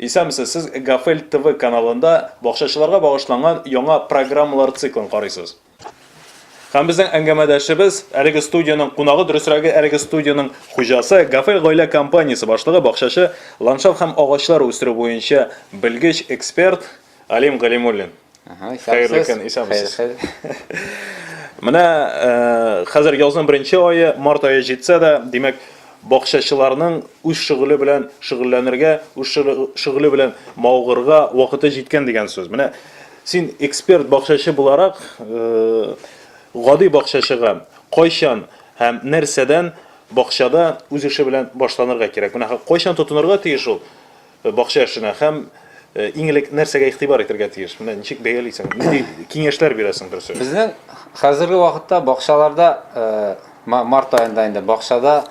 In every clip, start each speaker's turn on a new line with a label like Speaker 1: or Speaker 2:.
Speaker 1: Исәнмесез, сез Гафель ТВ каналында бакчачыларга багышланган яңа программалар циклын карыйсыз. Һәм безнең әңгәмәдәшебез, әлеге студиянең кунагы, дөресрәге, әлеге студиянең хуҗасы, Гафель гаилә компаниясе башлыгы, бакчачы, ландшафт һәм агачлар үстерү буенча белгеч, эксперт, Алим Галимуллин. Хәерле көн, исәнмесез. Менә э, хәзер язның беренче айы, март айы җитсә дә, димәк, бакчачыларның үз шөгыле белән шөгыльләнергә, үз шөгыле белән маугырга вакыты җиткән дигән сүз. Менә син эксперт бакчачы буларак, э, гади бакчачыга кайчан һәм нәрсәдән бакчада үз эше белән башланырга кирәк. Менә кайчан тотынырга тиеш ул? Бакча эшенә һәм иң элек нәрсәгә игътибар итәргә тиеш? Менә ничек бәялисең? Нинди киңәшләр бирәсең дөресен? Безнең хәзерге
Speaker 2: вакытта бакчаларда март аенда инде бакчада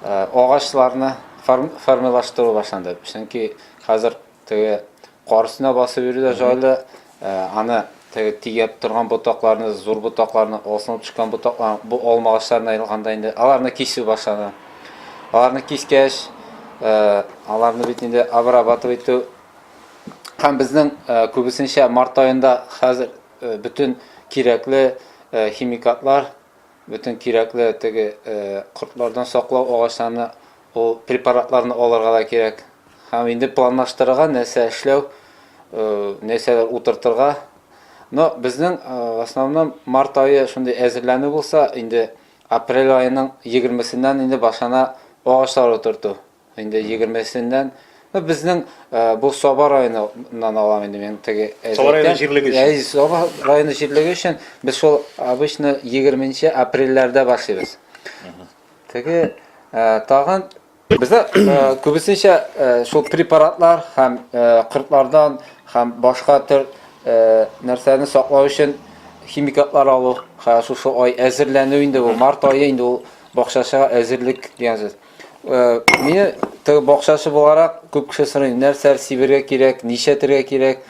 Speaker 2: агачларны формирлаштыру башланды. Чөнки хәзер теге кар өстенә басып йөрү дә җайлы, Аны теге тигәп торган ботакларны, зур ботакларны, алсынып төшкән ботакларны, бу алма агачларына язганда инде аларны кисү башлана. Аларны кискәч, аларны бит инде обрабатывать итү һәм безнең күбесенчә март аенда хәзер бөтен кирәкле химикатлар Бөтен кирәкле теге кортлардан саклау агачларны, ул препаратларны алырга да кирәк. Һәм инде планлаштырырга, нәрсә эшләү, нәрсәләр утыртырга. Но безнең в основном март ае шундый әзерләнү булса, инде апрель аеның егермесеннән инде башлана агачлар утырту. Инде егермесеннән Ну, безнең э, бу Саба районыннан алам инде мин теге Саба районы җирлеге
Speaker 1: өчен. Әй, Саба районы
Speaker 2: җирлеге өчен без шул обычно 20 апрельләрдә башлыйбыз. Теге э, тагын бездә э, күбесенчә шул препаратлар һәм кортлардан һәм башка төр нәрсәне саклау өчен химикатлар алу, һәм шушы ай әзерләнү инде бу март ае инде ул бакчачыга әзерлек дигән сүз. Э, мин тыгы бакчасы буларак күп кеше сорый, нәрсә сибергә кирәк, нишәтергә кирәк,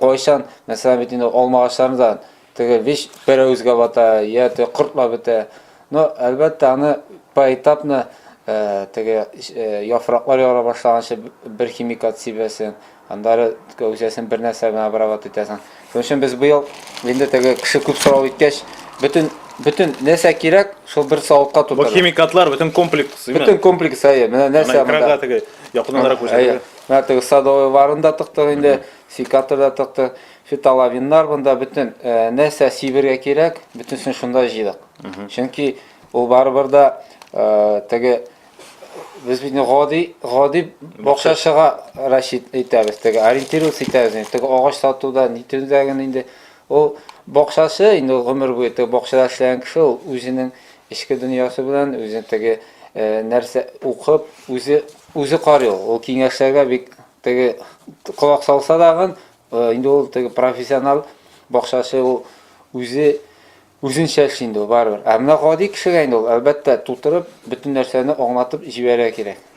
Speaker 2: кайчан, мәсәлән, бит инде алма агачларын да теге вич берәүзгә бата, я те кортлап бетә. Но әлбәттә аны поэтапно э, теге э, яфраклар яра башлаганчы бер химикат сибәсен, Аннары кәүсәсен бер нәрсә белән обрабат итәсең. Шуның өчен без быел инде теге кеше күп сорау иткәч, бөтен бөтен нәрсә кирәк, шул бер савытка тутырдык. Бу химикатлар бөтен комплекс,
Speaker 1: именно. Бөтен комплекс, әйе.
Speaker 2: Менә нәрсә монда. Экранга теге
Speaker 1: якыннанрак күрсәтелгән. Менә теге садовый
Speaker 2: варын да тыктык инде, секатор да тыктык, фитолавиннар монда бөтен нәрсә сибергә кирәк, бөтенсен шунда җыйдык. Чөнки ул барыбер дә теге Без бит гади, гади бакчачыга расчет итәбез, теге ориентироваться итәбез, теге агач сатуда, нитүдә генә инде. Ул бакчачы инде гомер буе теге бакчада эшләгән кеше, ул үзенең эчке дөньясы белән, үзе теге э, нәрсә укып, үзе үзе карый ул. Ул киңәшләргә бик теге колак салса дагын, э, инде ул теге профессионал бакчачы ул үзе Үзен чәч инде ул, барыбер. Ә менә гади кешегә инде ул, әлбәттә, тутырып, бөтен нәрсәне аңлатып җибәрергә кирәк.